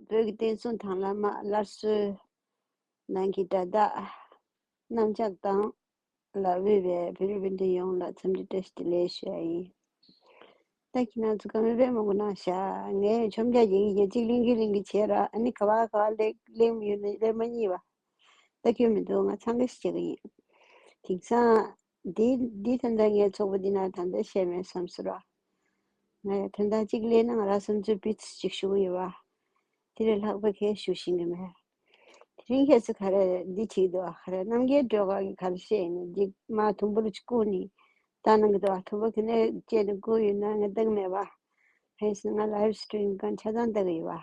བོད་ཀྱི་བསྟན་སྲུང་དང་བླ་མ་སླར་གསོའི་ནང་གི་དགྲ་ཟླ་གནམ་ལྕགས་དང་ལ་དབུས་པའི་བོད་རིགས་སྤུན་ཟླ་ཡོངས་ལ་འཚམས་འདྲི་བཀྲ་ཤིས་བདེ་ལེགས་ཞུ་བ་ཡིན། བདག་གིས་ནང་ཚུ་ག་མེད་པའི་མོ་གོ་ནང་ཤ་ངའི་ཆོམ་རྒྱག་གྱིན་ཡེ་གཅིག་ལིང་གིན་ལིང་གིན་བྱས་ར་ཨ་ནི་ག་བ་ག་བ་ལེགས་གླེང་མི་ཡོད་ན་གླེང་མ་གཉིས་པ་ད་ཁྱོད་མི་འདུག་ང་འཚང་ཁ་ཤི་བྱེད་གི་ཡིན་དེང་སང་འདིའི་དོན་དག་ངའི་ཚོགས་པ་འདི་ན་ད་ལྟ་བཤད་མེད་བསམ་ཟོ་ར། ང་ཡང་དོན་དག་ཅིག་གླེང་ན་ང་རང་བསམ་ཚུལ་སྤེལ་ཚུལ་ཅིག་ཞུ་གི་ཡོད་པ། དེ་ལས་ལྷག་པའི་ཁྱེད་ཞུ་བཞིན་གྱི་མེད། དེ་རིང་ཁྱེད་ཚོས་ག་རེ་འདི་བྲིས་འདུག་ག་རེ་རྣམ་རྒྱལ་སྒྲོལ་དཀར་གྱི་ག་རེ་བཤད་ཡིན་ནམ་འདི་མ་དུམ་བུར་ཅིག་བཀུག་ནས་བལྟ་གནང་གི་འདུག་ག་དུམ་བུ་ག་ནས་བཅད་ནས་བཀུག་ཡོད་ན་ང་བལྟ་གི་མེད་པ། ཧེ་ང Live Stream གང་ཆ་ཚང་བལྟ་གི་ཡོད་པ།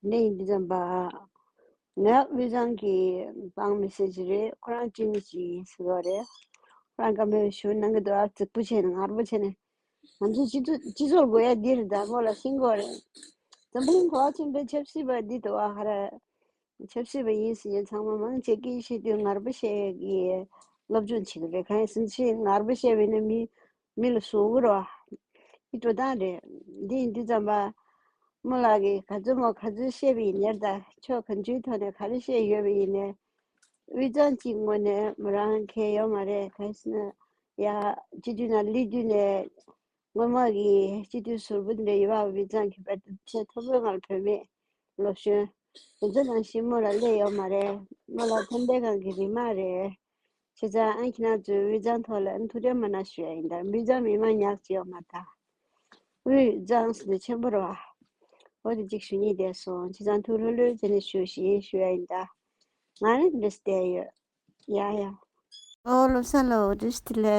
གནས་ཡིན་འཛམ་པ་ངའི་དབུས་གཙང་གི་འབངས་མི་སེར་གྱི་རེད་ཁོ་རང་སྐྱིད་མི་ཞིག་ཡིན་ཟེར་བ་རེད་ཁོ་རང་ཀ་མེད་པའི་ཞོ་ནང་གི་དོ་ཨ་ཙིག་པོ་བྱས་ནས་ངར་པོ་བྱས་ནས་ང་ཚོའི་སྤྱི་ཚོགས་སྤྱི་ཚོགས་དགོས་ཡ་འདིར་བདག་པོ་ལ་ཤིང་གོ་རེད་འཛམ་གླིང་གོ་ཨ་ཆེན་པོའི་ཆབ་སྲིད་པ་འདི་དོ་ཨ་ཧ་ར་ཆབ་སྲིད་པ་ཡིན་ཟེར་ནས་ཚང་མ་མང་ཆེ་གེ་ཤེས་དུས་ངར་པོ་བཤད་གི་སློབ་སྦྱོང་བྱེད་ཀྱི་རེད་གང་ཡིན་ཟུར་ཆེན་ངར་པོ་བཤད་བས་ན་མི་མི་ལ་སོགས་འུར་བ་ཡི་སྤྲོ་སྟངས་རེད། འདི་ཡིན་འདི་ཙམ་པདྨོ་ལགས་ཀྱིས་ག་ཚོད་མོ་ག་ཚོད་བཤད་པ་ཡིན་ནེར་ད་ཆོག་གང་ཅུའི་ཐོག་ནས་ག་རེ་བཤད་ཡོད་པ་ཡིན་ནེར། དབུས་གཙང་གཅིག་ངོ་ནས་མོ་རང་གས་ཡོད་མ་རེད་ག་ས་ན་ཡ། སྤྱི་འཐུས་ན་ལི་བསྡུས་ནས་སྔོན་མ་གི་སྤྱི་འཐུས་ཟུར་བུ་འདྲ་ཡི་བ་དབུས་གཙང་གི་བེད་སྤྱད་མཐོ་པོའི་ངང་བོད་མི་ལོ་གཞོན་དེ་ཚོ་ནང་བཞིན་མོ་ལ་སླེ་ཡོད་མ་རེད་མོ་ལ་ཕན་བདེ་གང་གི་རིན་མ་རེད། ཁྱེད་རང་ཨ་ཁྱི་ནག་ཚོའི་དབུས་གཙང་ཐོག་ལ་འཐུ་རེ་མ་ན་ཞུ་ཡ་ཡིན་དར་འབུས་ཚང་མི་དམངས་ཉག་ཅིག་ཡོག་མ་ད། དབུས་གཙང་སུ་འདི་ཆེན་པོ་རོ། འོ་དེ་གཅིག་ཞུ་གཉིས་བསྡད་སོང་ཁྱེད་རང་འཐུ་ལྷོད་ལྷོད་བྱེད་ནས་ཞུ་ཞེ་ཡིན་ཞུ་ཡ་ཡིན་དར། ང་རང་འདི་འདྲས་བསྡད་ཡོད། ཡ་ཡ། ཨོ་ལོ་ས་ལོ་འོ་དེ་ཞི་ལེ།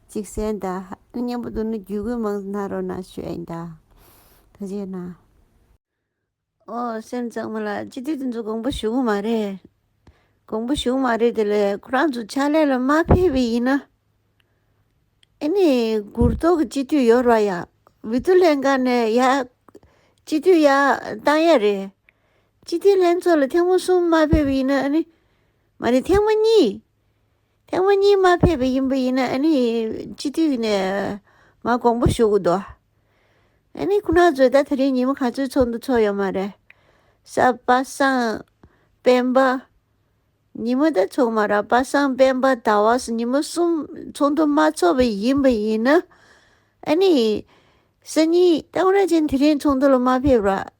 གཅིག་བསན་ད། སྙན་པོ་དུ་ནི་རྒྱུད་དགོས་མང་སྣ་རོ་ན་ཤོད་ད། ད་བྱས་ན། ཨོ་སེམས་གཙང་མ་ལགས་ཅི་དུས་དེ་ཚོ་དགོངས་པ་ཞུ་གི་མ་རེད། དགོངས་པ་ཞུ་གི་མ་རེད་དེ་ལས་ཁོ་རང་ཚོ་ཕྱག་ལས་ལ་མ་ཕེབས་པའི་ཡིན་ན། ཨེ་ནི་གུར་ཐོག་གི་སྤྱི་འཐུས་ཡོར་བ་ཡ་བི་ཏུ་ལན་ཀ་ནས་ཡ། སྤྱི་འཐུས་ཡ་བཏང་ཡ་རེད། སྤྱི་འཐུས་ལྷན་ཚོགས་ལ་ཐེངས་མ་གསུམ་མ་ཕེབས་པའི་ཡིན་ན་ཨེ་ནི། མ་རེད་ཐེངས་མ་གཉིས། ཐེངས་མ་གཉིས་མ་ཕེབས་པ་ཡིན་པ་ཡིན་ན་ཨ་ནི་སྤྱི་འཐུས་ནས་མ་དགོངས་པ་ཞུ་གི་འདུག་ཨ་ནི་ཁོ་ན་ཚོས་ད་ད་རིང་ཉིན་མོ་ག་ཚོད་ཚོགས་འདུག་ཚོགས་ཡོད་མ་རེད། སབ་པ་སངས། སྤེན་པ། ཉིན་མོ་ད་ཚོགས་མ་རག་པ་སངས་སྤེན་པ་ད་བ་སོ་ཉིན་མོ་གསུམ་ཚོགས་འདུ་མ་ཚོགས་པ་ཡིན་པ་ཡིན་ན་ཨ་ནི་སང་ཉིན་རྟ་མགྲིན་ཅན་དེ་རིང་ཚོགས་འདུ་ལ་མ་ཕེབས་རོགས།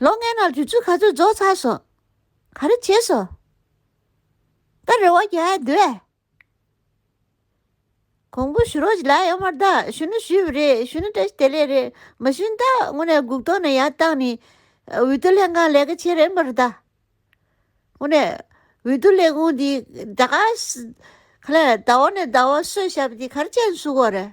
ལོ་ལྔའི་ནང་དུས་ཚོད་ག་ཚོད་རྫོགས་ཚར་སོང། ག་རེ་བྱས་སོང། ད་རེ་བ་རྒྱག་ཡ་འདུག་ཨེ། གོང་བུ་ཞུ་རོགས་ཅིག་ལགས་ཡོག་མར་ད་ཞུ་ནི་ཞུས་པ་རེད་ཞུ་ནི་བཀྲ་ཤིས་བདེ་ལེགས་རེད་མ་ཞུ་ནི་ད་དངོས་གནས་སྒུག་ཐོག་ནས་ཡར་བཏང་ནི། འོས་བསྡུ་ལྷན་ཁང་ལས་ཀ་བྱེད་རན་པ་རེད་ད། དངོས་གནས་འོས་བསྡུ་ལས་ཁུངས་འདི་ད་ག་ལས་ཟླ་བ་ནས་ཟླ་བ་སོས་ཞབས་འདི་ག་རེ་བྱས་ནས་བསུ་དགོས་རེད།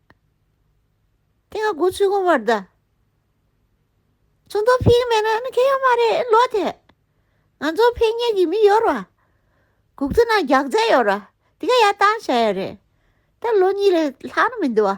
དེ་ག་གོ་ཆུ་གོ་བར་གདའ། ཚོང་དོན་ཕིག་མེད་ན་ཁེ་ཡོག་མ་རེད་ལོ་དེ། ང་ཚོ་ཕེ་ཉེ་གི་མི་ཡོར་བ། གུག་ཚོ་ན་རྒྱག་རྫས་ཡོར་བ་དེ་ག་ཡར་བཏང་བྱ་ཡ་རེད། ད་ལོ་གཉིས་ལས་ལྷག་ན་མི་འདུ་བ།